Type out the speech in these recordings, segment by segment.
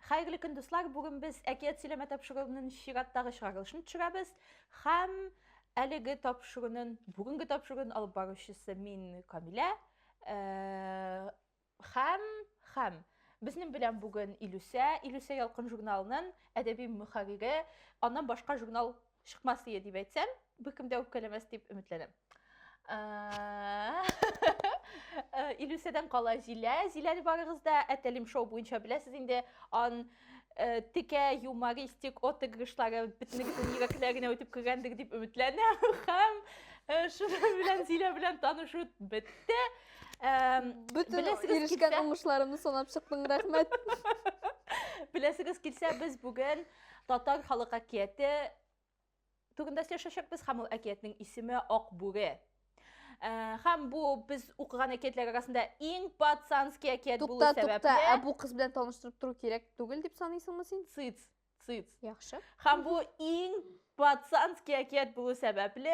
Хәерле көн, дуслар! Бүген без әкият сөйләмә тапшыруының чираттагы чыгарылышын төшерәбез һәм әлеге тапшыруның бүгенге тапшыруын алып баручысы мин Камилә һәм һәм безнең белән бүген Илүсә, Илүсә ялкын журналының әдәби мөхәррире, аннан башка журнал Чыкмас дия дип әйтсәм, беркем дә үпкәләмәс дип өметләнәм. Илүсәдән кала Зилә. Зиләне барыгыз да Әтәлим шоу буенча беләсез инде. Ан текә юмористик отыгрышлары бөтенегезнең йөрәкләренә үтеп кергәндер дип өметләнәм. Һәм шуның белән Зилә белән танышу бетте. Бөтен ирешкән уңышларымны санап чыктың, рәхмәт. Беләсегез килсә, без бүген Татар халык әкияте турында сөйләшәчәкбез һәм ул әкиятнең исеме Ак бүре. Ә, һәм бу без укыган әкиятләр арасында иң пацанский әкият булу Тукта, сәбәпле. тукта, ә бу кыз белән таныштырып тору кирәк түгел дип саныйсыңмы син? Цыц, цыц. Яхшы. Һәм бу иң Пацанский әкият булу сәбәпле,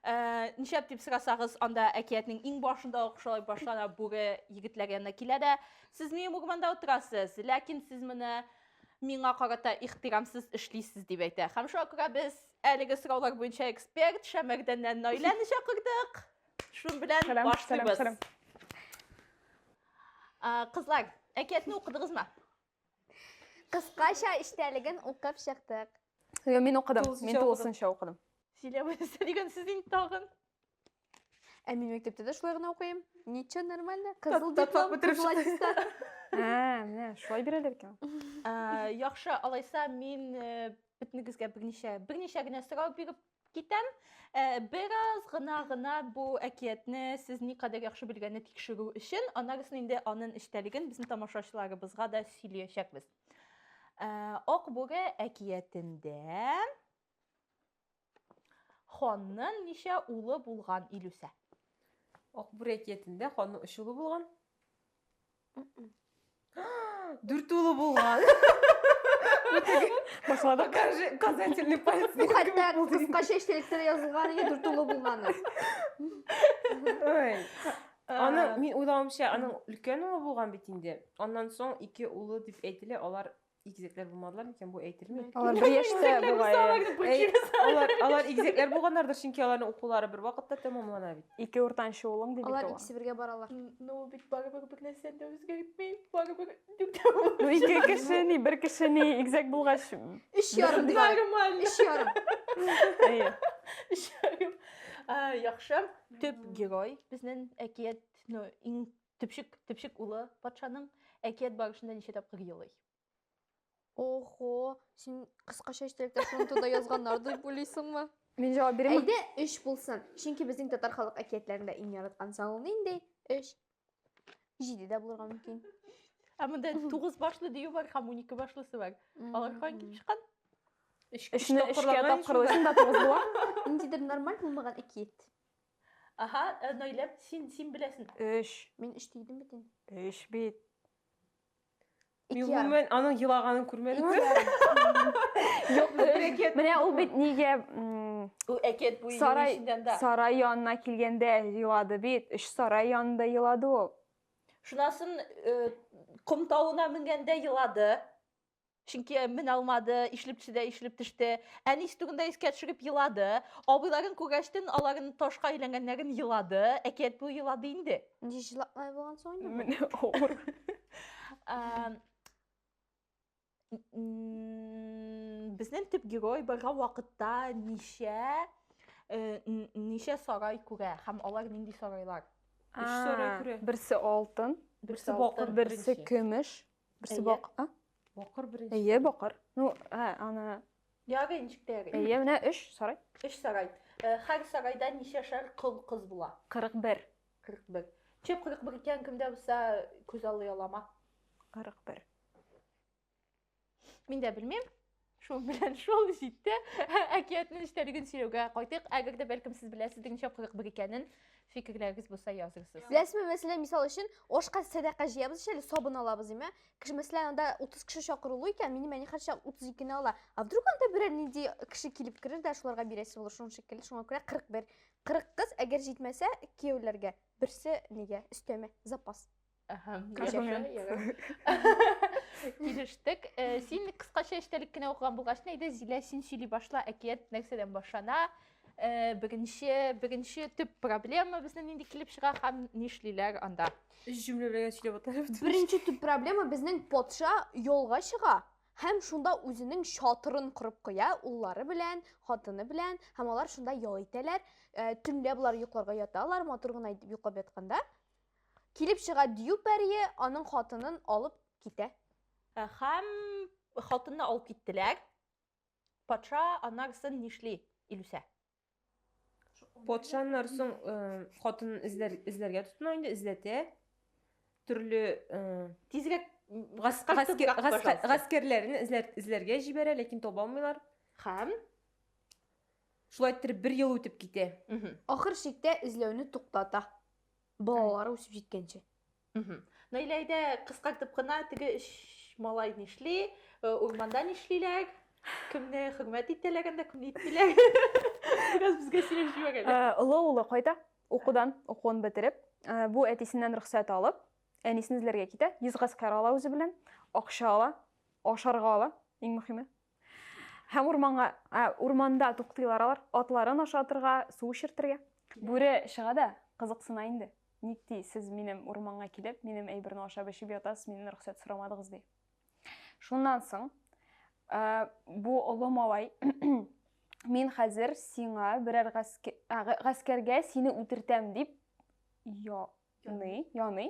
э, ничәп дип сорасагыз, анда әкиятнең иң башында ук шулай башлана бүре егетләр янына килә дә, сез минем урманда утырасыз, ләкин сез менә миңа карата ихтирамсыз эшлисез дип әйтә. Һәм шуңа күрә без әлеге сораулар буенча эксперт Шәмәрдәннән Наиләне чакырдык. Шун белән Сәлам, башлыйбыз. сәлам, сәлам. Э, Кызлар, әкиятне укыдыгызмы? Кыскача эчтәлеген укып чыктык. Йо, мин укыдым. Тулысынча Мин укыдым. тулысынча укыдым. Сөйләп өстә дигән сүз инде тагын. Ә мин мәктәптә дә шулай гына укыйм. Ничего, нормально. Кызыл Тат- татлап диплом, бетереп кызыл чыктың. аттестат. Ә, менә шулай бирәләр икән. Ә, Яхшы, алайса мин э, бөтенегезгә берничә, берничә генә сорау биреп Китәм. Э, бераз гына гына бу әкиятне сез никадәр яхшы белгәнне тикшерү өчен, аннарысын инде анын эчтәлеген безнең тамашачыларыбызга да сөйләячәкбез. Э, Ак бүре әкиятендә ханның ничә улы булган Илүсә? Ак бүре әкиятендә ханның өч улы булган. Дүрт улы булган. Башладык. Покажи указательный палец. Бу хәтта кыска чәчтәлектә язылган иде дүрт улы булганы. Ой. Аны мин уйлавымча, аның өлкән улы булган бит инде. Аннан соң ике улы дип әйтелә, алар Игезәкләр булмадылар микән? Бу әйтелми. Алар бер яшьтә бугай. Алар алар игезәкләр булганнардыр, чөнки аларның укулары бер вакытта тәмамлана бит. Ике уртанчы улың дип Алар икесе бергә баралар. Ну, бит барыбер бер нәрсәне дә үзгәртми. Барыбер дүртәү. Ну, ике кеше ни, бер кеше ни, игезәк булгач. Өч ярым дип. Нормально. Өч ярым. Әйе. Өч ярым. Яхшы. Төп герой безнең әкият, ну, иң Төпчек, төпчек улы патшаның әкият барышында ничә тапкыр елый? Охо, син кыскача истәлектә шуны туда язганнар дип уйлыйсыңмы? Мин җавап бирәм. Әйдә, өч булсын. Чөнки безнең татар халык әкиятләрендә иң яраткан сан ул нинди? Өч. Җиде дә булырга мөмкин. Ә монда тугыз башлы дию бар һәм унике башлысы бар. Алар каян килеп чыккан? Өчне өчкә тапкырлыйсың да тугыз була. Ниндидер нормаль булмаган әкият. Аһа, Наилә, син, син беләсен. Өч. Мин өч дидем бит инде. Өч бит. Мин гомумән аның елаганын күрмәдем. Юк, менә ул бит нигә Бу әкият буе сарай, янында. Сарай янына килгәндә елады бит. Өч сарай янында елады ул. Шунасын э, ком тавына менгәндә елады. Чөнки мен алмады, ишлеп төште, ишлеп төште. Әни истүгендә искә төшереп елады. Абыйларын күгәчтен аларын ташка әйләнгәннәрен елады. Әкият бу елады инде. Ничә җылаклай булган соң инде? Менә авыр. Безнең төп герой бара вакытта ничә э, ничә сарай күрә һәм алар нинди сарайлар? Өч сарай күрә. Берсе алтын, берсе бакыр, берсе көмеш, Берсе бак, а? Бакыр беренче. Әйе, бакыр. Ну, ә, аны... Яры, ничек тә яры. Әйе, менә өч сарай. Өч сарай. Хәр сарайда ничә шәр кыл кыз була? 41. 41. Че 41 икән кемдә булса күз аллый алама? 41. Мин дә белмим. Шул белән шул җитте. Әкиятнең эчтәлеген сөйләүгә кайтыйк. Әгәр дә бәлкем сез беләсездер ничә кызык бер икәнен, фикерләрегез булса язырсыз. Беләсезме, мәсәлән, мисал өчен, ашка сәдака җыябыз ич әле, сабын алабыз, димме? Кеше, мәсәлән, анда 30 кеше чакырылу икән, минем әни хәрчә 32 не ала. А вдруг анда берәр нинди кеше килеп керер дә шуларга бирәсе булыр, шуның шикелле. Шуңа күрә 41. 40 кыз, әгәр җитмәсә, кияүләргә. Берсе нигә? Өстәмә, запас. Килештек. Э, син кыскача эчтәлек кенә укыган булгач, әйдә Зилә, син сөйли башла, әкият нәрсәдән башлана? Э, беренче, беренче төп проблема безнең нинди килеп чыга һәм нишлиләр анда? Өч җөмлә белән сөйләп аталып. Беренче төп проблема безнең патша юлга чыга һәм шунда үзенең чатырын корып куя, уллары белән, хатыны белән, һәм алар шунда ял итәләр. Э, төнлә болар йокларга яталар, матур гына итеп йоклап ятканда, Килеп чыга Дию пәрие, аның хатынын алып китә. Ә, Һәм хатынны алып киттеләр. Патша аннарсын нишли, Илүсә? Патша аннарсын э, хатынын эзләр, эзләргә тотына инде, эзләтә. Төрле э, Тизрәк гаскәр, гаскәр, гаскәр, гаскәрләрен эзләр, эзләргә җибәрә, ләкин таба алмыйлар. Һәм Шулай иттереп бер ел үтеп китә. Мгм. Ахыр чиктә эзләүне туктата. Балалар үсеп җиткәнче. Наилә әйдә кыскартып кына теге өч малай нишли, э, урманда нишлиләр, кемне хөрмәт итәләр анда, кемне итмиләр. Бераз безгә сөйләп җибәр әле. Э, олы улы кайта, укудан, укуын бетереп, э, бу әтисеннән рөхсәт алып, әнисен эзләргә китә, йөз гаскәр ала үзе белән, акча ала, ашарга ала, иң мөһиме, Һәм урманга, ә, урманда туктыйлар алар, атларын ашатырга, су эчертергә. Бүре чыга да, кызыксына инде. Ник ди, сез минем урманга килеп, минем әйберне ашап-эчеп ятасыз, миннән рөхсәт сорамадыгыз, ди. Шуннан соң, ә, бу олы малай, Мин хәзер сиңа берәр гаскә, ә, гаскәргә сине үтертәм, дип, я, яный, яный.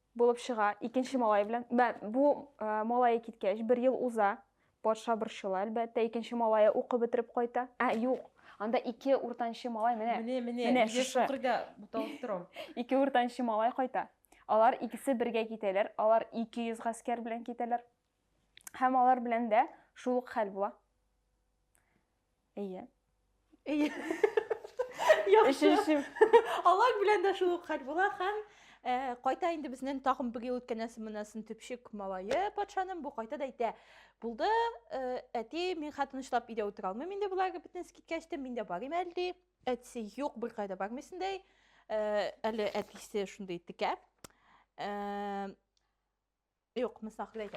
Булып чыга, икенче малае белән. Бә, бу ә, малае киткәч, бер ел уза. Патша борчыла, әлбәттә, икенче малае укып бетереп кайта. Ә, юк, анда ике уртанчы малай, менә. Менә, менә, менә нигә шукырга буталып торам. Ике уртанчы малай кайта. Алар икесе бергә китәләр, алар 200 гаскәр белән китәләр. Һәм алар белән дә шул ук хәл була. Әйе. Әйе. Яхшы. Алар белән дә шул ук хәл була һәм э, кайта инде безнең тагын бер ел үткәннән соң моннан төпчек малае патшаның бу кайта да әйтә. Булды, э, әти, мин хәтта тынычлап өйдә утыра алмыйм инде болар бөтен киткәч тә, мин дә барыйм әле ди. Әтисе юк, бер кайда бармыйсың ди. Э, әле әтисе шундый текә. Э, Юк, мин саклыйм.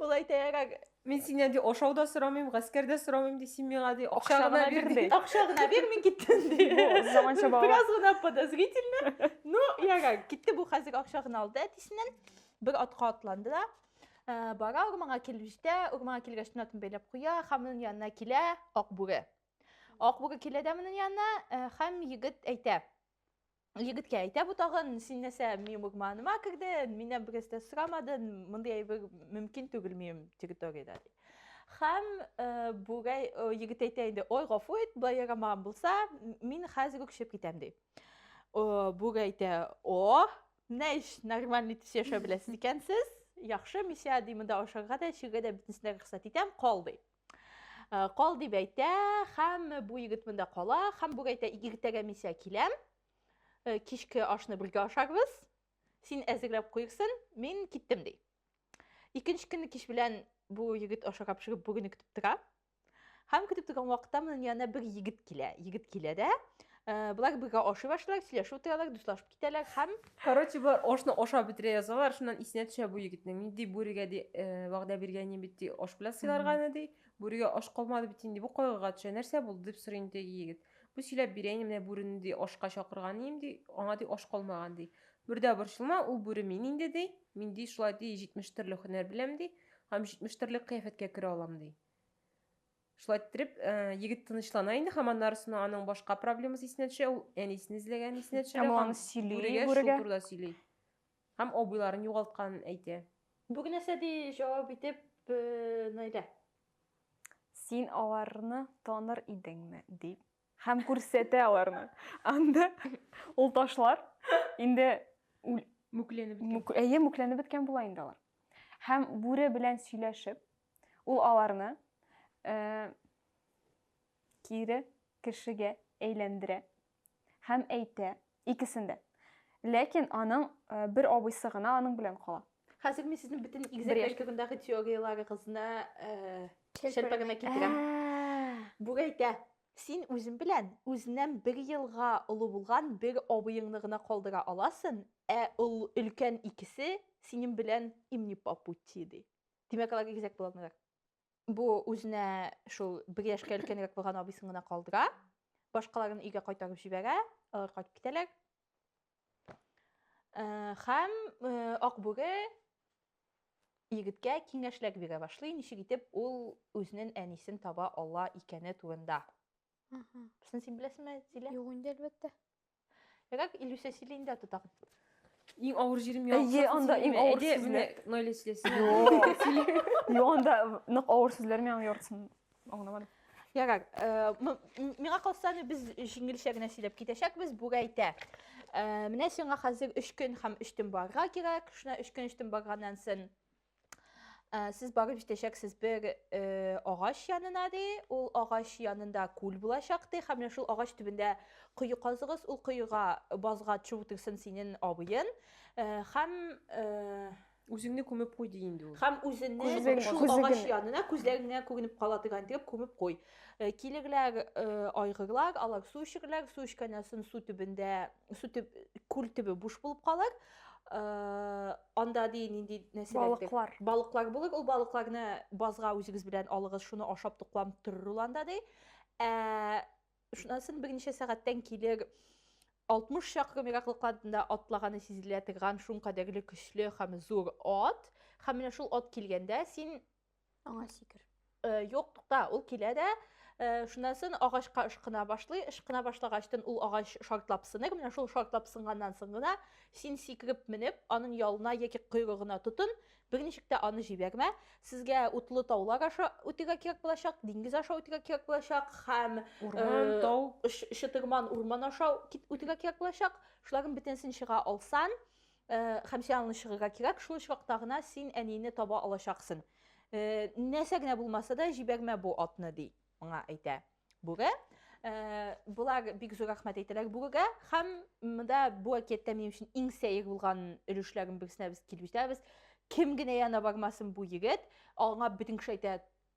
Ул әйтәйрәк, мин синнән ди ашау да сорамыйм, гаскәр дә сорамыйм ди, син миңа ди акча гына бир ди. Акча гына бир, мин киттем ди. Заманча бала. Бераз гына подозрительно. Ну, яга, китте бу хәзер акча гына алды әтисеннән. Бер атка атланды да. Э, бара урманга килеп җитә, урманга килгәч төнәтен бәйләп куя, һәм аның янына килә Акбүре. Акбүре килә дә моның янына, э, һәм егет әйтә. егеткә әйтә бу тагын син нәрсә минем урманыма кердең миннән бераз да сорамадың мондый әйбер мөмкин түгел минем территориядә ди һәм э, бүрәй э, егет әйтә инде ой гафу ит былай ярамаган булса мин хәзер үк чыгып китәм ди бүрәй әйтә о менә ич нормальный итеп яшәп беләсез икән сез яхшы мисә ди монда ашарга да эчәргә дә бөтенесенә рөхсәт итәм кал ди Э, кал дип әйтә һәм бу егет монда кала һәм бүген әйтә иртәгә мин сиңа киләм э, кичке ашны бергә ашарбыз син әзерләп куйырсың мин киттем ди икенче көнне кич белән бу егет ашарга пешереп бүгенне көтеп тора һәм көтеп торган вакытта монын янына бер егет килә егет килә дә э, болар бергә ашый башлыйлар сөйләшеп утыралар дуслашып Китәләр һәм, короче, болар ашны ашап бетерә язалар, шуннан исенә төшә бу егетнең. Нинди бүрегә ди, э, вәгъдә биргән идем бит ди, аш белән сыйларганы ди. Бүрегә аш калмады бит инде, бу кайгыга төшә. Нәрсә булды дип сорый инде теге егет. Бу сөйләп бирә инде, менә бүрене ди ашка чакырган идем ди, аңа ди аш калмаган ди. Бер дә борчылма, ул бүре мин инде ди. Мин ди шулай ди 70 төрле һөнәр беләм ди һәм 70 төрле кыяфәткә керә алам ди. Шулай иттереп, егет тынычлана инде, һәм аннары соң аның башка проблемасы исенә төшә, ул әнисен эзләгән исенә төшә. Һәм ул сөйли, бүрегә шул турыда сөйли. Һәм абыйларын югалтканын әйтә. Бу нәрсә ди җавап итеп Наилә. Син аларны таныр идеңме, дип. Һәм күрсәтә аларны. Анда ул ташлар инде мүкләнеп беткән. Әйе, мүкләнеп беткән була инде алар. Һәм бүре белән сөйләшеп, Ул аларны кире кешегә әйләндерә һәм әйтә, икесен дә. Ләкин аның бер абыйсы гына аның белән кала. Хәзер мин сезнең бөтен игезәкләр турындагы теорияләрегезне шәлпәрәмә китерәм. Бу әйтә, син үзең белән үзеннән бер елга олы булган бер абыеңны гына калдыра аласың, ә өлкән икесе синең белән им не по пути, ди. Димәк, алар игезәк була алмыйлар. Бу үзенә шул бер яшькә өлкәнрәк булган абыйсын гына калдыра. Башкаларын өйгә кайтарып җибәрә, алар кайтып китәләр. Э, Хәм э, Акбүре егеткә киңәшләр бирә башлый, ничек итеп ул үзенең әнисен таба ала икәне турында. Мгм. Син син беләсеңме, Зилә? Юк инде, әлбәттә. Егак Илюся сөйлейінде тутам. Иң ауыр җирем Әйе, ялгышасың анда сөйлиме? иң ауыр Әйдә, сүзләр. менә Наилә сөйләсен. Юк, анда нык авыр сүзләр миңа яртысын аңламадым. Ярар. э, м- м- Миңа калса аны без җиңелчә генә сөйләп китәчәкбез. Бүрәйтә. Э, Менә сиңа хәзер өч көн һәм өч төн барырга кирәк. Шуна өч көн, өч төн барганнан соң Ә, сез барып җитәчәксез бер э, агач янына ди. Ул агач янында күл булачак ди. Һәм менә шул агач төбендә кое казыгыз. Ул коега базга төшеп утырсын синен абыен. Э, һәм э, Үзеңне күмеп куй ди инде ул. һәм үзенне Күзлеген, шул күзлеген. агач янына күзләреңә күренеп кала торган итеп күмеп куй. Э, Килерләр, э, айгырлар, алар су эчерләр, су эчкәннән соң су төбендә, су төб, күл төбе буш булып калыр. анда ди нинди нәрсәләр балыклар балыклар булыр ул балыкларны базга үзегез белән алыгыз шуны ашап тукланып торыр ул анда ди ә шунасын берничә сәгатьтән килер 60 чакрым ераклыкладында атлаганы сизелә торган шуңкадәрле көчле һәм зур ат һәм менә шул ат килгәндә син Аңа сикер. Э, юк, тукта, ул килә дә, э, шуннан соң агачка ышкына башлый, ышкына башлагачтан ул агач шартлап сыныр, менә шул шартлап сынганнан соң гына син сикереп менеп, аның ялына яки койрыгына тотын, берничек тә аны җибәрмә. Сезгә утлы таулар аша үтәргә кирәк булачак, диңгез аша үтәргә кирәк булачак һәм урман, э, тау, чытырман урман аша үтәргә кирәк булачак. Шуларның бөтенесен чыга алсан, Һәм син аны чыгырга кирәк, шул очракта гына син әнине таба алачаксын. Нәрсә генә булмаса да, җибәрмә бу атны, ди моңа әйтә бүре. Болар бик зур рәхмәт әйтәләр бүрегә һәм монда бу әкияттә минем өчен иң сәер булган өлешләрнең берсенә без килеп җитәбез. Кем генә янына бармасын бу егет, аңа бөтен кеше әйтә,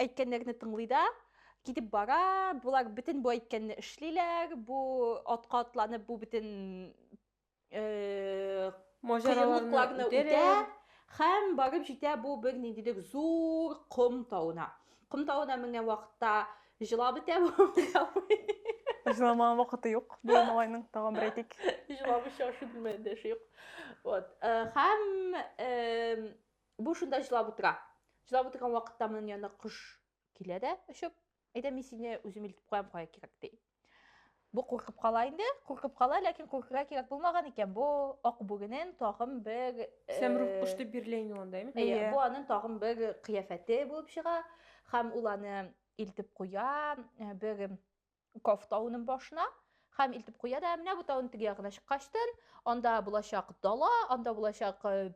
Әйткәннәрне тыңлый да, китеп бара, болар бөтен бу әйткәнне эшлиләр, бу атка атланып, бу бөтен э, Маҗараларны үтә. Хәм барып җитә бу бер ниндидер зур ком тавына. Ком тавына менгән вакытта җыла бетә бу. Җыламаган вакыты юк. Бу малайның тагын бер әйтик. Җыламыйча ашый белмәгән дә шук. Вот. Э, хәм э, Бу шунда җылап утыра. Җылап утырган вакытта моның янына кош килә дә очып, әйдә мин сине үзем илтеп куям кая кирәк ди. Бу куркып кала инде, куркып кала, ләкин куркырга кирәк булмаган икән. Бу ак бүренен тагын бер э, Сәмрух кош дип бирелә инде анда, әйме? Әйе, бу аның тагын бер кыяфәте булып чыга һәм ул аны илтеп куя, э, бер Каф тауының башына һәм илтеп куя да менә бу тауның теге ягына чыккачтын анда булачак дала анда булачак э,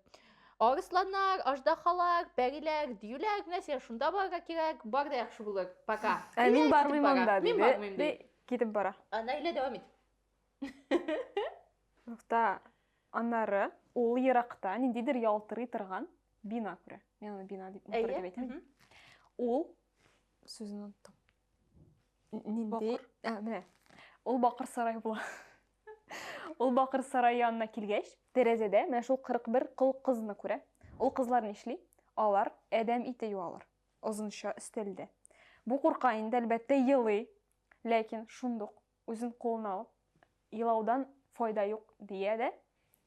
арысланнар аждахалар пәриләр диюләр менә сиңа шунда барырга кирәк бар да яхшы булыр пока ә мин бармыйм анда мин бармыйм ди китеп бара наилә дәвам ит нокта аннары ул еракта ниндидер ялтырый торган бина күрә мин аны бина дип әйтәм ул сүзен оныттым Нинди? Ә, менә. Ул бакыр сарай була. Ул бакыр сарай янына килгәч, тәрәзәдә менә шул 41 кол кызны күрә. Ул кызлар нишли? Алар әдәм ите юалар. Озынча өстәлдә. Бу курка инде, әлбәттә, елый. Ләкин шундук үзен кулына алып, елаудан файда юк, дия дә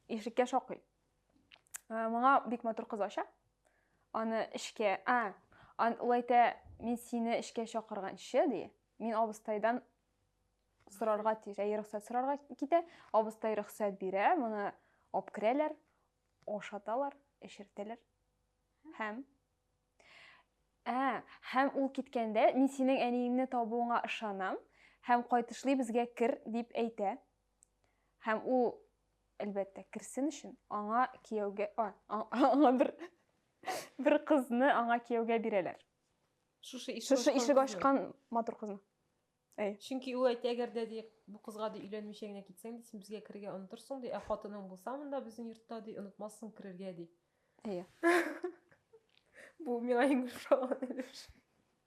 ишеккә шакый. Ә, моңа бик матур кыз ача. Аны эшкә, а, ан улайта мин сине эшкә чакырганчы ди. Мин абыстайдан сорарга тиеш, әйе рөхсәт сорарга китә. Абыстай рөхсәт бирә, моны алып керәләр, ашаталар, эшертәләр. Һәм Ә, һәм ул киткәндә мин синең әниеңне табуыңа ышанам һәм кайтышлый безгә кер дип әйтә. Һәм ул, әлбәттә, керсен өчен, аңа кияүгә, аңа бер бер кызны аңа кияүгә бирәләр. Шушы ишек Шушы ишек ачкан матур кызны. Әй. Чөнки ул әйтә, әгәр дә ди, бу кызга ди өйләнмичә генә китсәң ди, син безгә керергә онтырсың ди, ә хатының булса монда безнең йортта ди, онытмассың керергә ди. Әйе. Бу миңа иң ошаган өлеш.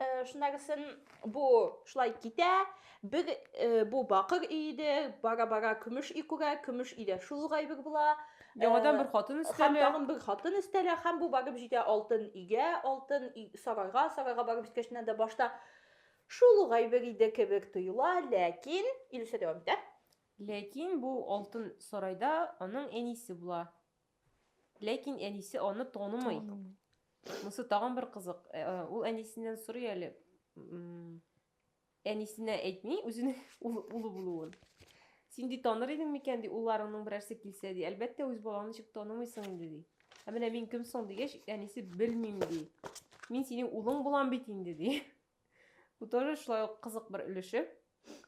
Э, шундагысын бу шулай китә бер э, бу бакыр өйде бара бара көмеш үй күрә көмеш өйдә шул ук әйбер була яңадан э, бер хатын өстәлә һәм тагын бер хатын өстәлә һәм бу барып җитә алтын өйгә алтын сарайга сарайга барып җиткәч дә башта шул ук әйбер иде кебек тоела ләкин илүсә дәвам итә ләкин бу алтын сарайда аның әнисе була Ләкин әнисе аны танымый. Танымый. Монысы тагын бер кызык. Э, э, ул әнисеннән сорый әле. Әнисенә әйтми үзенең улы булуын. Син ди таныр идең микән ди, улларыңның берәрсе килсә ди. Әлбәттә, үз балаңны ничек танымыйсың инде ди. Ә менә мин кем соң дигәч, әнисе белмим ди. Мин синең улың булам бит инде ди. Бу тоже шулай ук кызык бер өлеше.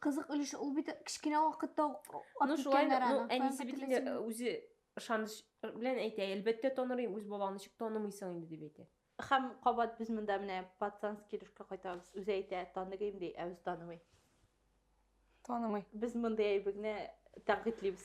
Кызык өлеше, ул бит кечкенә вакытта ук Ну шулай, ну әнисе бит инде үзе ышаныч белән әйтә, әлбәттә танырым, үз балаңны ничек танымыйсың инде дип әйтә. Хәм кабат без монда менә пацанский рушка кайтабыз. Үзе әйтә, таныгыйм ди, ә үзе танымый. Танымый. Без мондый әйбегне тәнкыйтьлибез.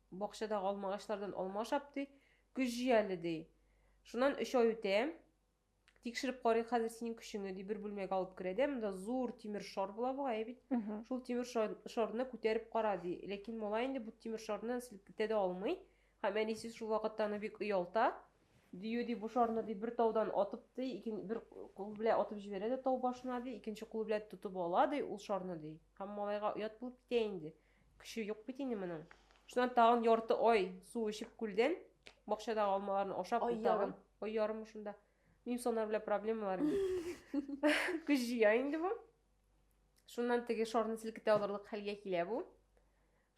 Бакчадагы алма агачлардан алма ашап, ди, көч җый әле, ди. Шуннан өч ай үтә. Тикшереп карыйк хәзер синең көчеңне, ди, бер бүлмәгә алып керә дә, монда зур тимер шар була бугай бит. Шул тимер шарны күтәреп кара, ди. Ләкин малай инде бу тимер шарны селкетә дә алмый. Һәм әнисе шул вакытта аны бик оялта. Дию, ди, бу шарны, ди, бер таудан атып, ди, икен, бер кулы белән атып җибәрә дә тау башына, ди, икенче кулы белән тотып ала, ди, ул шарны, ди. Һәм малайга оят булып китә инде. Көче юк бит инде моның. Шуннан тагын ярты ай су эчеп күлдән, бакчадагы алмаларны ашап, ай тагын ай ярым шунда. Мимсонар белән проблемалар. Көч җыя инде бу. Шуннан теге шарны селкетә алырлык хәлгә килә бу.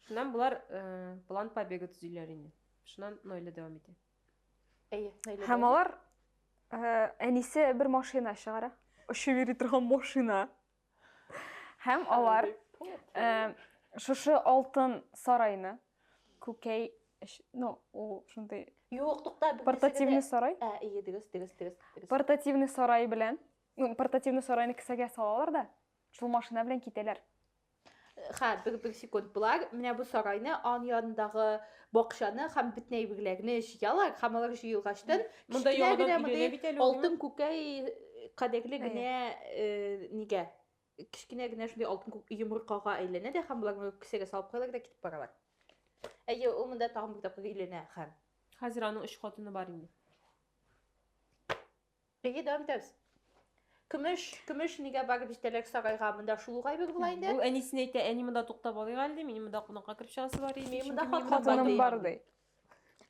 Шуннан болар э, план побега төзиләр инде. Шуннан Нойле дәвам итә. Әйе, Нойле. Һәм алар э, әнисе бер машина чыгара. Очып йөри торган машина. Һәм алар э, шушы алтын сарайны күкәй ну ул шундый юк тукта портативный сарай ә ие дөрес дөрес дөрес портативный сарай белән ну портативный сарайны кесәгә салалар да шул машина белән китәләр Хә, бер, бер секунд. Болар менә бу сарайны, ан янындагы бакчаны һәм бөтен әйберләрне җыялар һәм алар җыелгачтан Монда кечкенә яңадан генә өйләнә бит әле ул, алтын күкәй кадәрле генә э, нигә кечкенә генә шундый алтын күк йомыркага әйләнә дә һәм болар кесәгә салып куялар да китеп баралар. Әйе, ул монда тагын бер тапкыр өйләнә һәм Хәзер аның өч хатыны бар инде. Эйе, дәвам итәбез. Көмеш, көмеш нигә барып җитәләр сарайга? Монда шул ук әйбер була инде. Бу әнисенә әйтә, әни монда туктап алыйк әле, ди, минем монда кунакка кереп чыгасы бар иде. Минем монда чөнки хат- Хатыным бар ди.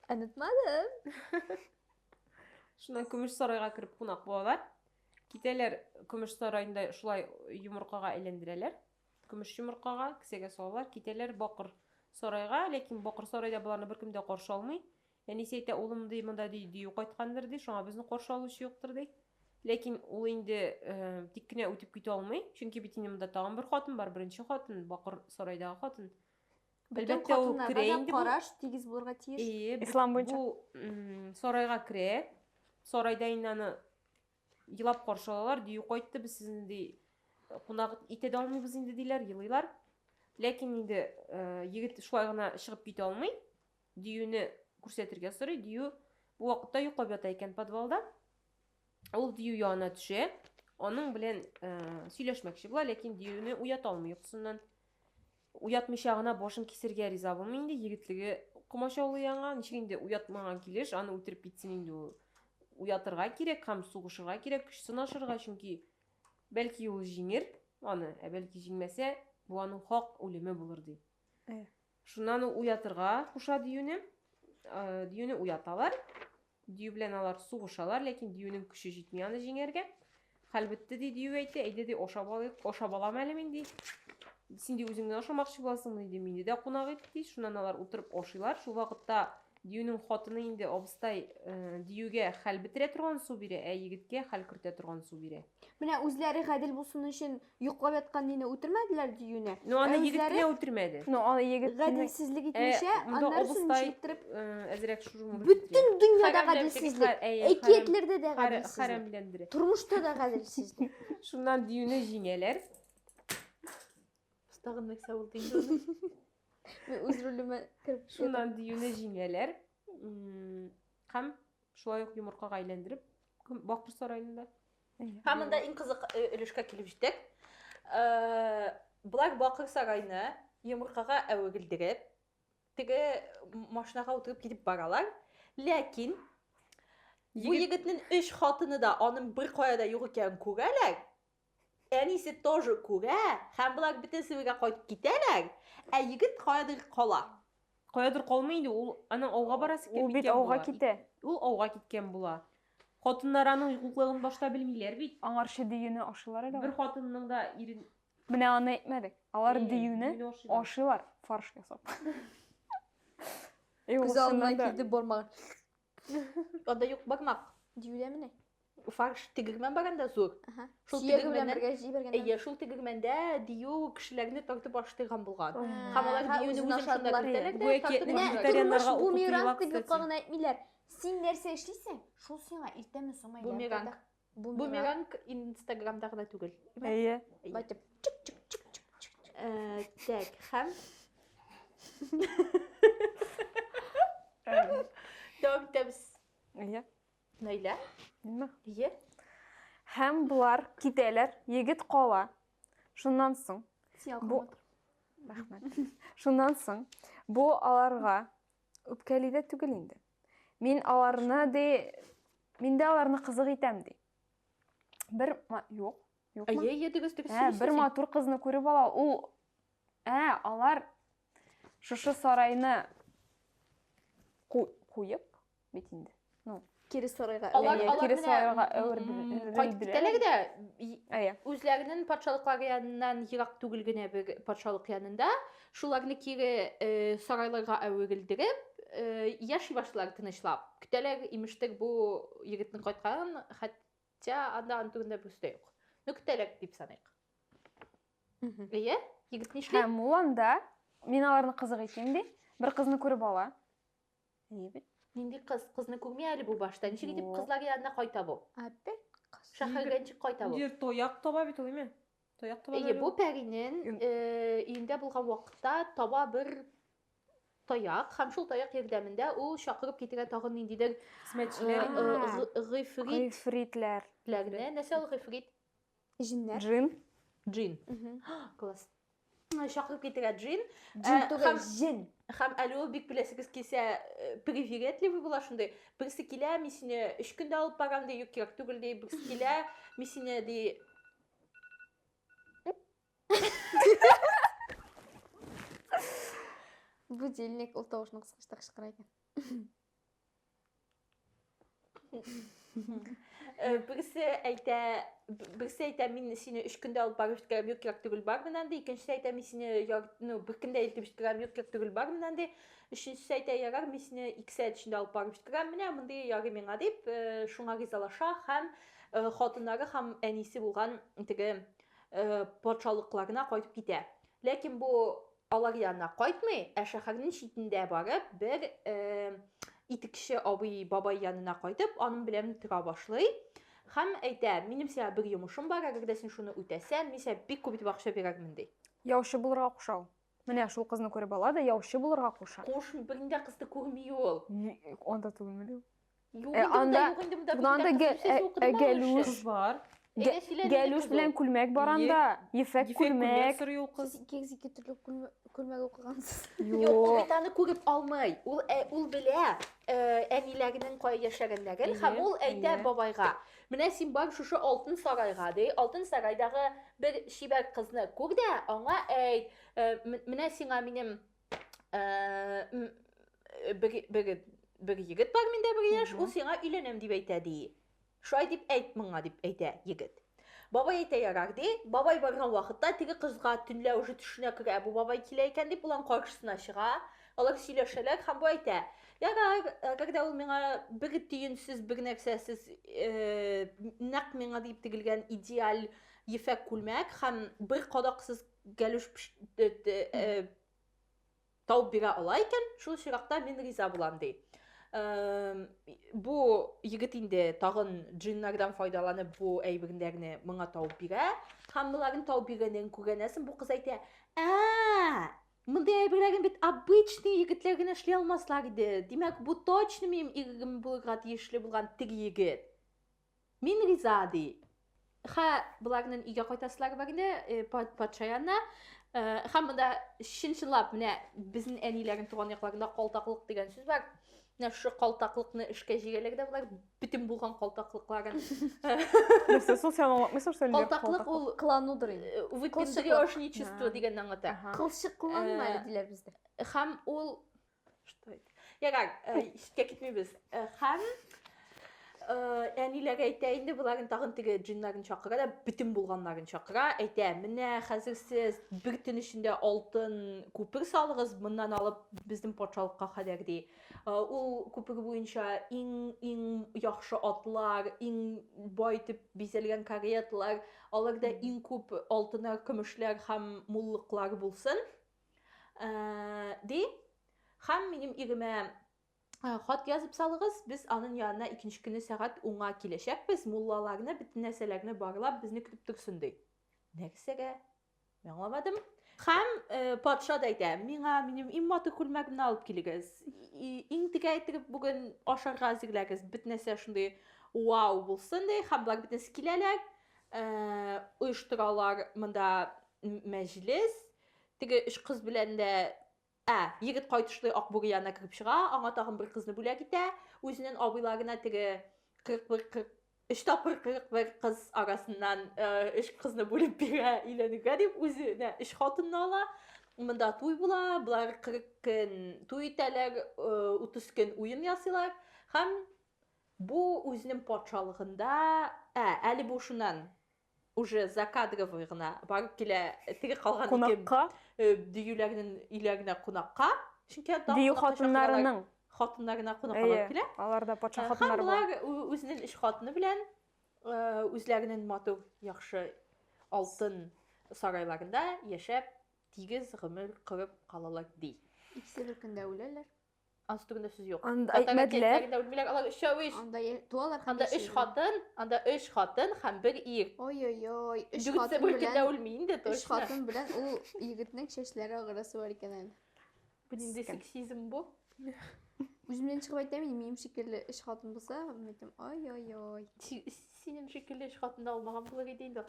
Онытмадым. Шуннан көмеш сарайга кереп кунак булалар. Китәләр көмеш сараенда шулай йомыркага әйләндерәләр. Көмеш йомыркага кесәгә салалар, китәләр бакыр сарайга, ләкин бакыр сарайда боларны беркем дә каршы алмый. Әнисе әйтә, улым, ди, монда ди, дию кайткандыр, ди, шуңа безне каршы алучы юктыр, ди. Ләкин ул инде тик кенә үтеп китә алмый, чөнки бит инде монда тагын бер хатын бар, беренче хатын, бакыр сарайдагы хатын. Бөтен хатыннарга да караш тигез булырга тиеш. Ие, ислам буенча. Бу сарайга керә. Сарайда инде аны елап каршы алалар, дию кайтты, без сезне ди кунак итә дә алмыйбыз инде диләр, елыйлар. Ләкин инде егет шулай гына чыгып китә алмый. Диюне күрсәтергә сорый. Дию бу вакытта йоклап ята икән подвалда. Ул дию янына төшә. Аның белән ә, сөйләшмәкче була, ләкин диюне уята алмый йокысыннан. Уятмыйча гына башын кисергә риза булмый инде. Егетлеге комачаулый аңа. Ничек инде уятмаган килеш, аны үтереп китсен инде ул. Уятырга кирәк һәм сугышырга кирәк, көч сынашырга, чөнки бәлки ул җиңер аны, ә бәлки җиңмәсә, бу аның хак үлеме булыр ди. Э. Шуннан ул уятырга куша диюне. Диюне уяталар. Дию белән алар сугышалар, ләкин диюнең көче җитми аны җиңәргә. Хәлбетте ди дию әйтә, әйдә ди ашап алыйк, ашап алам әле мин ди. Син ди үзеңне ашамакчы буласыңмы ди, мине дә кунак ит ди. Шуннан алар утырып ашыйлар. Шул вакытта Диюнең хатыны инде, абыстай, диюгә хәл бетерә торган су бирә, ә егеткә хәл кертә торган су бирә. Менә үзләре гадел булсын өчен йоклап яткан дине үтермәделәр диюне. Ну аны ә егет кенә үтермәде. Ну аны егет гаделсезлек итмичә, аннары сүнче иттереп әзрәк шужым булып. Бөтен дөньяда гаделсезлек. Әкиятләрдә дә гаделсезлек. Хәрәмләндерә. Тормышта да гаделсезлек. Шуннан диюне җиңәләр. Тагын нәрсә булды инде? Мин үз ролемә кереп Шуннан диюне җиңәләр. Һәм шулай ук йомыркага әйләндереп Бакбурса районында. Һәм монда иң кызык э, өлешкә килеп җиттек. Э, Болар Бакыр сарайны йомыркага әверелдереп, теге машинаға утырып китеп баралар. Ләкин бу егетнең өч хатыны да аның бер кая да юк икәнен күрәләр. Әнисе тоже күрә, һәм болар бөтенесе бергә кайтып китәләр, ә егет каядыр кала. Каядыр калмый инде, ул аның ауга барасы килеп киткән була. Ул бит ауга китә. Ул ауга киткән була. Хатыннар аның юклыгын башта белмиләр бит. Аңарчы диюне ашыйлар әле алар. Бер хатынның да ирен. Менә аны әйтмәдек. Алар диюне ашыйлар, фарш ясап. Күз алдына килде бармагы. Анда юк бармак диюләме ни? Фарш тегермән бар анда зур. Шул тегермәннән Әйе, шул тегермәндә дию кешеләрне тартып аштырган булган. Һәм алар диюне үзен шунда кертәләр дә тартып аштырганнар. Бумеранг дип юкка гына әйтмиләр. Син нәрсә эшлисең? Шул сиңа иртәме соңмы? Бумеранг. Бумеранг инстаграмда гына түгел. Әйе. Байтып. Э, так, һәм Дәвам итәбез. Әйе. Наилә? Мин Әйе. Һәм болар китәләр, егет кала. Шуннан соң бу Рәхмәт. Шуннан соң бу аларга үпкәли дә түгел инде. Мин аларны ди, мин дә аларны кызык итәм ди. Бер юк, юкмы? Әйе, әйе, дөрес, дөрес. Ә, бер матур кызны күреп ала. Ул ә, алар шушы сарайны куеп бит инде. Ну, кире сарайга алар кире сарайга әверделәр дә үзләренең патшалыклары яныннан ерак түгел генә бер патшалык янында Шуларны кире сарайларга әверелдереп, яши башлар тынычлап. Көтәләр, имештер, бу егетнең кайтканын, хәтта анда аны турында берсе дә юк. Ну, көтәләр дип саныйк. Әйе, егет нишли? Һәм ул анда, мин аларны кызык итим, ди, бер кызны күреп ала. Әйе бит. Нинди кыз? Кызны күрми әле бу башта. Ничек итеп кызлар янына кайта бу? Опять кыз. Шәһәргә ничек кайта бу? Ир тояк таба бит ул, име? Тояк таба. Әйе, бу пәринен өендә булган вакытта таба бер таяк һәм шул таяк ярдәмендә ул чакырып китергән тагын ниндидер хезмәтчеләр, гыйфритләр. Нәрсә ул гыйфрит? Җиннәр. Джин. Джин. Класс. Чакырып китергә джин. Джин Ә, түгел, хәм- җен. Хәм әле ул бик беләсегез килсә, э, привередливый була шундый. Берсе килә, мин сине өч көндә алып барам ди, юк кирәк түгел ди. Берсе килә, мин сине ди. Будильник ул тавышны кыскачта кычкыра икән. Э, берсе әйтә берсе әйтә мин сине өч көндә алып барып җиткерәм юк кирәк түгел бар менән ди икенчесе әйтә мин сине ну бер көндә илтеп җиткерәм юк кирәк түгел бар менән ди өченчесе әйтә ярар мин сине ике сәгать эчендә алып барып җиткерәм менә мондый ярый миңа дип э, шуңа ризалаша һәм э, хатыннары һәм әнисе булган теге патшалыкларына кайтып китә ләкин бу Алар янына кайтмый, ә шәһәрнең читендә барып, бер э, итекче абый бабай янына кайтып, аның белән тора башлый. Хәм әйтә, минем сиңа бер йомышым бар, әгәр дә син шуны үтәсәң, мин сиңа бик күп итеп акча бирермен ди. Яучы булырга куша ул. Менә шул кызны күреп ала да яучы булырга куша. Куш, бернидә кызды күрми ул. Анда түгелмени ул? Юк Э, инде монда, анда- юк инде монда. Бүген анда кызның гә- сүзе ә- укыдым ә аңа гәлүш. өчен. Кыз бар. Әйдә, Гә- сөйлә, нинди Гәлүш кыз ул? белән күлмәк бар Ие. анда. Ефәк Ефәк күлмәк күлмәк. сорый ул кыз. Сез икегез ике төрле күлмә- күлмәк укыгансыз. Юк, ул Юк. бит аны күреп алмый. Ул ә- ул белә э, әниләренең кая яшәгәннәрен һәм Әйе, ул әйтә әйе. бабайга. Менә син бар шушы алтын сарайга, ди. Алтын сарайдагы бер чибәр кызны күр дә, аңа әйт, э, м- менә сиңа минем бер, бер, бер егет бар миндә бер яшь, ул сиңа өйләнәм дип әйтә ди. Шулай дип әйт моңа дип әйтә егет. Бабай әйтә ярар ди. Бабай барган вакытта теге кызга төнлә уже төшенә керә, бу бабай килә икән дип улан каршысына чыга. Алар сөйләшәләр һәм бу әйтә, ярар, әгәрдә ул миңа бер төенсез, бер нәрсәсез, нәкъ миңа дип тегелгән идеаль ефәк күлмәк һәм бер кадаксыз Гәлүш тауып бирә ала икән, шул очракта мин риза булам, ди. Бу егет инде тагын джиннардан файдаланып бу әйберләрне моңа тауып бирә. Һәм боларын тауып биргәнен күргәнәсен бу кыз әйтә, ә Мондый әйберләрен бит обычный егетләр генә эшли алмаслар иде. Димәк, бу точно минем ирегем булырга тиешле булган теге егет. Мин риза, ди. Хә, боларның өйгә кайтасылары бар инде, э, пат- патша янына. Э, Һәм монда чын-чынлап менә безнең әниләрнең туган якларында калтаклык дигән сүз бар. Менә шушы калтаклыкны эшкә җигәләр дә болар бөтен булган калтаклыкларын. Нәрсә, шул сән аңлатмыйсың шул Калтаклык ул Кыланудыр инде. э, выпендрёжничество Кылчыклык. дигәнне аңлата. Кылчыкланма Э, әле диләр бездә. Һәм ул Я как, искә китмибез. Хәм әниләр әйтә инде боларын тагын теге джиннарын чакыра да бөтен булганнарын чакыра әйтә менә хәзер сез бер төн эчендә алтын күпер салыгыз моннан алып безнең патшалыкка кадәр ди ул күпер буенча иң иң яхшы атлар иң бай итеп бизәлгән кареталар аларда иң күп алтыннар көмешләр һәм муллыклар булсын Ә, ди, хәм минем иремә Э, хат язып салыгыз без анын янына икенче көне сәгать уңа киләчәкбез муллаларны бөтен нәрсәләрне барлап безне көтеп торсын ди нәрсәгә мин аңламадым һәм э, патша да әйтә миңа минем иң матур күлмәгемне алып килегез иң тегә итеп бүген ашарга әзерләгез бөтен нәрсә шундый вау булсын ди һәм болар бөтенесе киләләр оештыралар э, монда мәҗлес Теге өч кыз белән дә Ә, егет кайтышлый Акбүре янына кереп чыга, аңа тагын бер кызны бүләк итә. Үзенең абыйларына теге 41-40 өч тапкыр 41 кыз арасыннан өч кызны бүлеп бирә, өйләнергә дип үзенә өч хатынны ала. Монда туй була, болар 40 көн туй итәләр, 30 көн уен ясыйлар һәм бу үзенең патшалыгында, ә, әле бу шуннан уже закадровый гына барып килә теге калган кунакка э, диюләрнең өйләренә кунакка чөнки дию хатыннарының хатыннарына кунакка барып килә алар да патша э, хатыннары болар үзенең өч хатыны белән э, үзләренең матур яхшы алтын сарайларында яшәп тигез гомер корып калалар ди икесе бер көндә үләләр Ансы түгендә сүз юк. Анда әйтмәделәр. Үлмиләр, алар өчәү иш. Анда туалар һәм Анда өч хатын, анда өч хатын һәм бер ир. Ой-ой-ой, өч хатын белән. Дүртсе үлми инде, точно. Өч хатын белән ул егетнең чәчләре агырасы бар икән әле. Бу нинди сексизм бу? Үземнән чыгып әйтәм, минем шикелле өч хатын булса, мен әйтәм, ой-ой-ой. Синем шикелле өч хатын да алмаган булыр иде инде.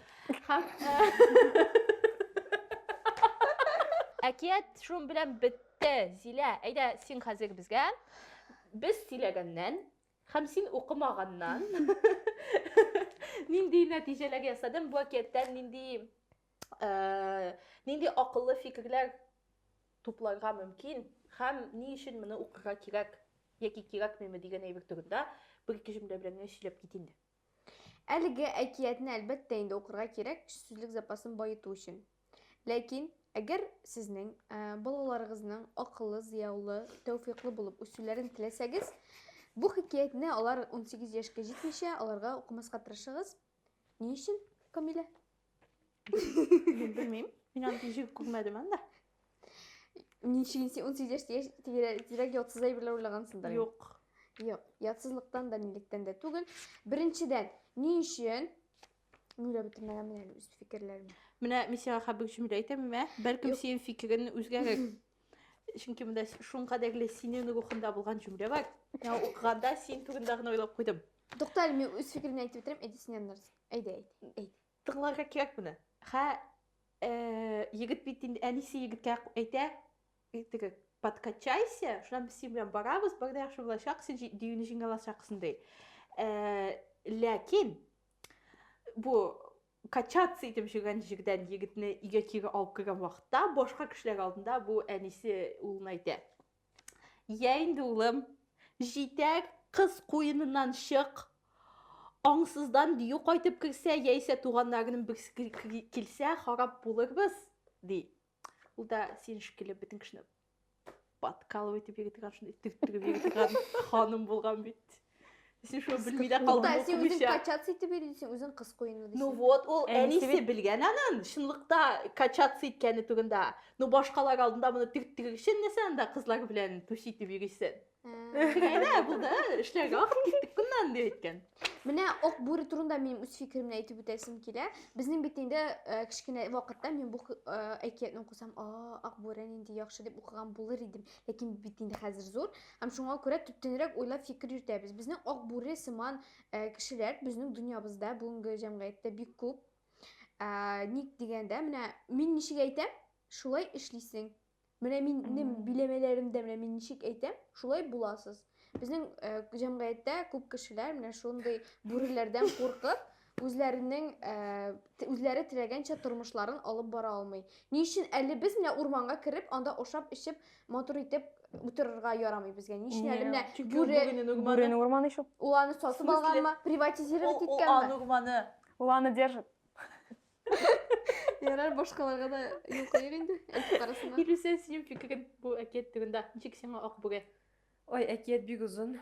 Һәм әкият шун белән бетте. Зилә, әйдә син хәзер безгә. Без сөйләгәннән һәм син укымаганнан нинди нәтиҗәләр ясадың бу әкияттән нинди э, нинди акыллы фикерләр тупларга мөмкин һәм ни өчен моны укырга кирәк яки кирәкмиме дигән әйбер турында бер ике җөмлә белән генә сөйләп кит инде. Әлеге әкиятне әлбәттә инде укырга кирәк, сүзлек запасын баету өчен. Ләкин әгәр сезнең ә, балаларыгызның акыллы, зыяулы, тәүфиклы булып үсүләрен теләсәгез, бу хикәятне алар 18 яшькә җитмичә аларга укымаска тырышыгыз. Ни өчен, Камилә? Мин белмим. Мин аны ничек күрмәдем анда. Ни өчен син 18 яшь яшь тирә- тирәк ятсыз әйберләр уйлагансыңдыр. инде. Юк. Юк, ятсызлыктан да, нилектән дә түгел. Беренчедән, ни өчен? Мин дә бетермәгәнмен әле үз фикерләремне. Менә мин сиңа хәбиб җөмлә әйтәм, мә. Бәлкем Юк. синең фикерең үзгәрер. чөнки монда шуңа кадәрле синең рухыңда булган җөмлә бар миңа укыганда син турында гына уйлап куйдым тукта әле мин үз фикеремне әйтеп бетерәм әйдә синнән нәрсә әйдә әйдә әйт тыңларга кирәк моны хә э, егет бит инде әнисе егеткә әйтә теге подкачайся шуннан без синең белән барабыз бар да яхшы булачак син дөюне җиңә алачаксың ди э, ләкин бу качаться итеп җөргән җирдән егетне өйгә кире алып кергән вакытта башка кешеләр алдында бу әнисе улына әйтә йә инде улым җитәр кыз куеныннан чык аңсыздан дию кайтып керсә яисә туганнарының берсе килсә харап булырбыз ди Ул да син шикелле бөтен кешене подкалывай дип йөргән, шундый төрттереп йөргән ханым булган бит. Син шуны белми дә калдың. Та син үзең качаться итеп йөрисең, үзең кыз куену дисең. Ну вот, ул әнисе белгән анын, чынлыкта качаться иткәне турында. Ну башкалар алдында моны төрттерер өчен нәрсә анда кызлар белән түш итеп йөрисең? Теге әйдә булды, эшләргә вакыт киттек куннан дип әйткән. Менә ок бүре турында минем үз фикеремне әйтеп үтәсем килә. Безнең бит инде э, кечкенә вакытта мин бу э, әкиятне укысам, а, ак бүре нинди яхшы дип укыган булыр идем. Ләкин бит инде хәзер зур. Һәм шуңа күрә төптәнрәк уйлап фикер йөртәбез. Безнең ак бүре сыман э, кешеләр безнең дөньябызда, бүгенге җәмгыятьтә бик күп. Ә, ник дигәндә, менә мин ничек әйтәм, шулай эшлисең. Менә минем биләмәләремдә менә мин ничек әйтәм, шулай буласыз. Безнең э, җәмгыятьтә күп кешеләр менә шундый бүреләрдән куркып, үзләренең э, т- үзләре теләгәнчә тормышларын алып бара алмый. Ни өчен әле без менә урманга кереп, анда ашап, эчеп, матур итеп утырырга ярамый безгә? Ни өчен әле менә Чөнки ул бүре бүренең урманы. Бүренең урманы шул. ул аны сатып Смысле? алганмы, приватизировать Ул- ул иткәнме? аның урманы. Ул аны держит. Ярар, башкаларга да юл куйыйк инде, әйтеп карасына. Илүсә, синең фикерең бу әкият турында. Ничек сиңа ак бүре? Ой, әкият бик озын.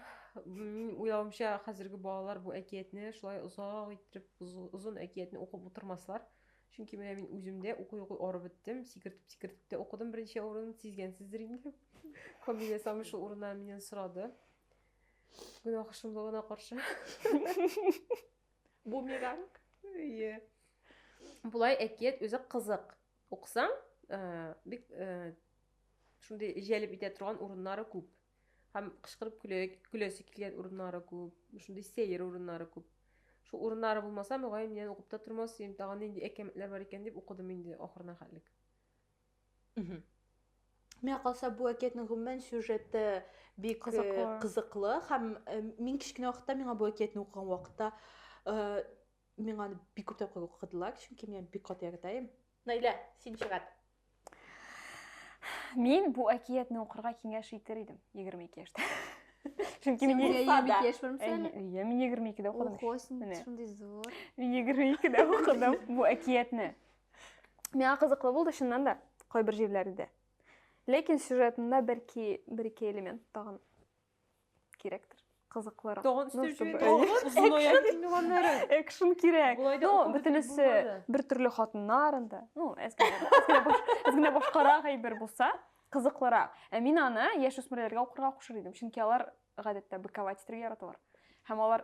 Мин уйлавымча, хәзерге балалар бу әкиятне шулай озак иттереп, уз- озын әкиятне укып утырмаслар. Чөнки менә мин үзем дә укый-укый арып беттем. Сикертеп-сикертеп тә укыдым берничә урын, сизгәнсездер инде. Камилә Сами шул урыннан миннән сорады. Гөнаһ шомлыгына каршы. Бумеранг. Ие. Болай әкият үзе кызык. Уксаң, бик шундый җәлеп итә торган урыннары күп. Һәм кычкырып көләсе килгән урыннары күп, шундый сәер урыннары күп. Шул урыннары булмаса, мөгаен, миннән укып та тормас идем, тагын нинди әкәмәтләр бар икән дип укыдым инде ахырына хәтлек. Миңа калса бу әкиятнең гомумән сюжеты бик кызыклы, э, кызыклы һәм э, мин кечкенә вакытта миңа бу әкиятне укыган вакытта э, миңа аны бик күп тапкыр укыдылар, чөнки мин бик каты яратам. Наилә, син чыгат. Мин бу әкиятне укырга киңәш итер идем 22 яшьтә. Чөнки мин Син я бик яшь булмыйм әле. Әйе, мин 22-дә укыдым. Охо, син шундый зур. Мин 22-дә укыдым бу әкиятне. Миңа кызыклы булды чыннан да, кайбер җирләрдә. Ләкин сюжетында бәлки бер-ике элемент тагын кирәктер. Кызыклырак. Тагын өстәп җибәрә. Экшн кирәк. Ну, бөтенесе бер төрле хатыннар инде. Ну, әзгә башкарак әйбер булса, кызыклырак. Ә мин аны яшүсмерләргә укырга кушыр идем, чөнки алар гадәттә быковать итәргә яраталар. Һәм алар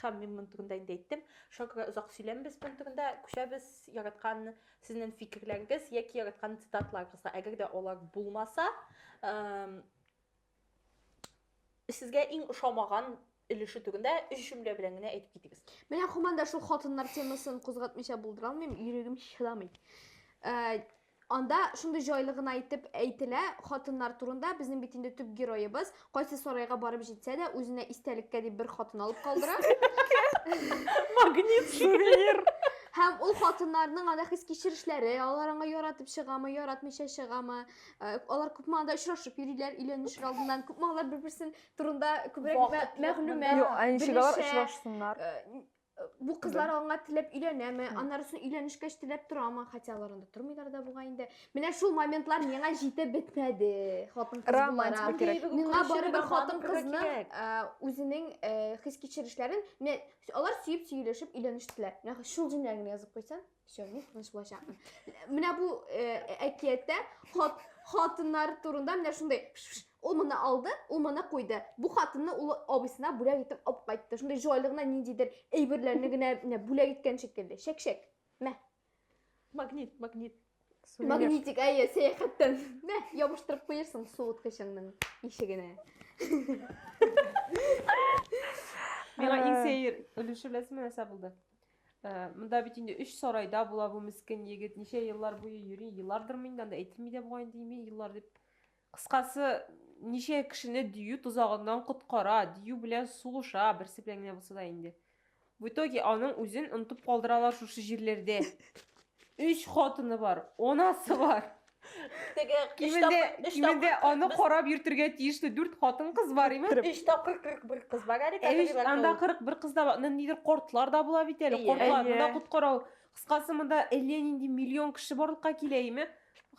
Хәм мин моның турында инде әйттем. Шуңа күрә озак сөйләмбез моның турында. Күчәбез яраткан сезнең фикерләрегез яки яраткан цитатларыгызга. Әгәр дә алар булмаса, сезгә иң ошамаган өлеше турында өч җөмлә белән генә әйтеп китегез. Менә һаман да шул хатыннар темасын кузгатмыйча булдыра алмыйм, йөрәгем чыдамый. Ә, Анда шундый җайлы гына итеп әйтелә хатыннар турында. Безнең бит инде төп героебыз кайсы сарайга барып җитсә дә, үзенә истәлеккә дип бер хатын алып калдыра. Магнит сувенир. Һәм ул хатыннарның анда хис кичерешләре, алар аңа яратып чыгамы, яратмыйча чыгамы, э, алар күпме анда очрашып йөриләр, өйләнешер алдыннан, күпме алар бер-берсен турында күбрәк мәгълүмат. Юк, ә ничек алар очрашсыннар? Э, Бу кызлар аңа теләп өйләнәме? Аннары соң өйләнешкәч теләп торамы? Хотя алар анда тормыйлар да бугай инде. Менә шул моментлар миңа җитеп бетмәде. Хатын кыз Романтика буларак. кирәк. Миңа бары бер хатын кызны кирәк. үзенең э, хис кичерешләрен менә алар сөеп сөйләшеп өйләнештеләр. Менә шул җөмләне генә язып куйсаң. Сәвүк менә булачакмын. Менә бу әкияттә хат хатыннар турында менә шундый ул моны алды, ул моны куйды. Бу хатынны ул абысына бүләк итеп алып кайтты. Шундый җайлы гына ниндидер әйберләрне генә менә бүләк иткән шикелле. Шәк-шәк. Мә. Магнит, магнит. Магнитик, әйе, сәяхәттән. Мә, ябыштырып куерсың суыткычыңның ишегенә. Миңа иң сәер өлеше беләсеңме нәрсә булды? Ә, монда бит инде өч сарайда була бу мискен егет, ничә еллар буе йөри, еллардырмы инде, анда әйтелми дә бугай инде име еллар дип. Кыскасы, ничә кешене дию тозагыннан коткара, дию белән сугыша, берсе белән генә булса да инде. В итоге аның үзен онытып калдыралар шушы җирләрдә. Өч хатыны бар, онасы бар. Теге өч Кимендә, тапкыр- өч кимендә тапкыр аны кыркбыз- карап йөртергә тиешле дүрт хатын-кыз бар, имеш. Үч тапкыр 41 кыз бар әле Әйш, категорияләр анда тулы. 41 кыз да бар. Ны- Нидер кортлар да була бит әле. Әйе. Кортларны да Әйе. коткарау. Кыскасы, монда әллә нинди миллион кеше барлыкка килә име?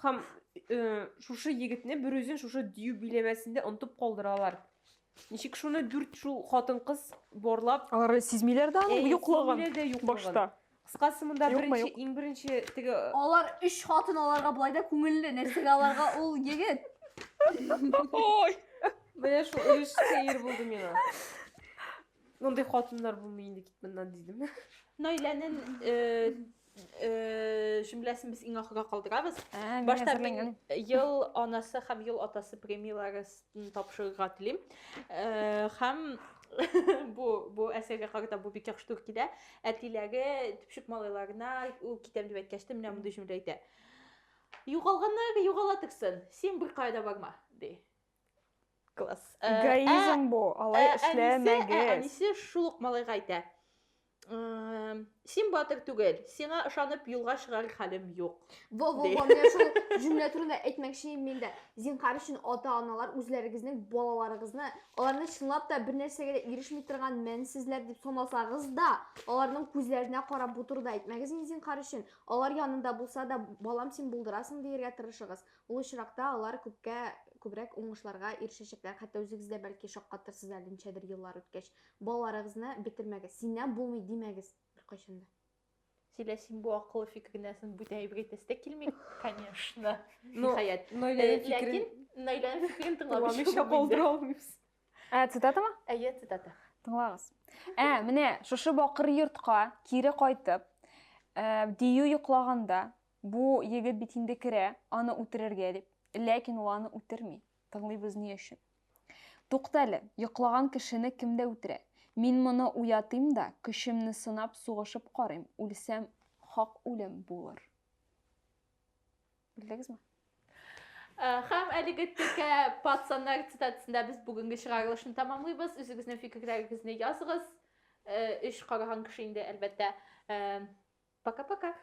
Һәм э, шушы егетне берүзен шушы дию биләмәсендә онтып калдыралар. Ничек шуны дүрт шул хатын-кыз барлап Алар сизмиләр дә аның юклыгын. сизмиләр дә юклыгын. Башта. Кыскасы монда Юкмы, беренче, юк. иң беренче теге Алар өч хатын аларга болай да күңелле, нәрсәгә аларга ул егет? Ой! менә шул өлеш сәер булды миңа. Мондый хатыннар булмый инде кит моннан дидем. Наиләнең э, э, җөмләсен без иң ахырга калдырабыз. Ә, Башта әзерләнгән. мин ел анасы һәм ел атасы премияләрес Җиңү тапшырырга телим. Э, һәм бу бу әсәргә карата бу бик яхшы туры килә. Әтиләре төпчек малайларына ул китәм дип әйткәч тә менә мондый җөмлә әйтә. Югалганнар югала торсын, син бер кая да барма, ди. Класс. Э, Эгоизм ә- бу, алай ә- әнисе- ә, эшләмәгез. Әнисе шул ук малайга әйтә. Син батыр түгел, сиңа ышанып юлга чыгар хәлем юк. Во, во, во, мен шул җөмлә турында әйтмәкче мин дә. Зинхар өчен ата-аналар үзләрегезнең балаларыгызны, аларны чынлап та бер нәрсәгә дә ирешми торган мәнсезләр дип санасагыз да, аларның күзләренә карап бу турыда әйтмәгез инде зинхар өчен. Алар янында булса да, балам син булдырасың диергә тырышыгыз. Ул очракта алар күпкә күбрәк уңышларга ирешәчәкләр, хәтта үзегез дә бәлки шаккатырсыз әле ничәдер еллар үткәч. Балаларыгызны бетермәгез. Синнән булмый димәгез беркайчан да. Зилә, син бу акыллы фикерне әсен бүтән әйбер әйтәсе дә килми, конечно. Ниһаять. Ләкин Наиләнең фикерен тыңламыйча булдыра алмыйбыз. Ә, цитатамы? Әйе, цитата. Тыңлагыз. Ә, менә шушы бакыр йортка кире кайтып, дию йоклаганда, бу егет бит инде керә, аны үтерергә дип. Ләкин ул аны үтерми. Тыңлыйбыз ни өчен. Туктале, йоклаган кешене кем дә үтерә. Мин моны уятыйм да, көчемне сынап сугышып карыйм, үлсәм, хак үлем булыр. Белдегезме? Э, һәм әлеге текә пацаннар цитатасында без бүгенге чыгарылышны тәмамлыйбыз үзегезнең фикерләрегезне языгыз өч э, караган кеше инде әлбәттә э, пока пока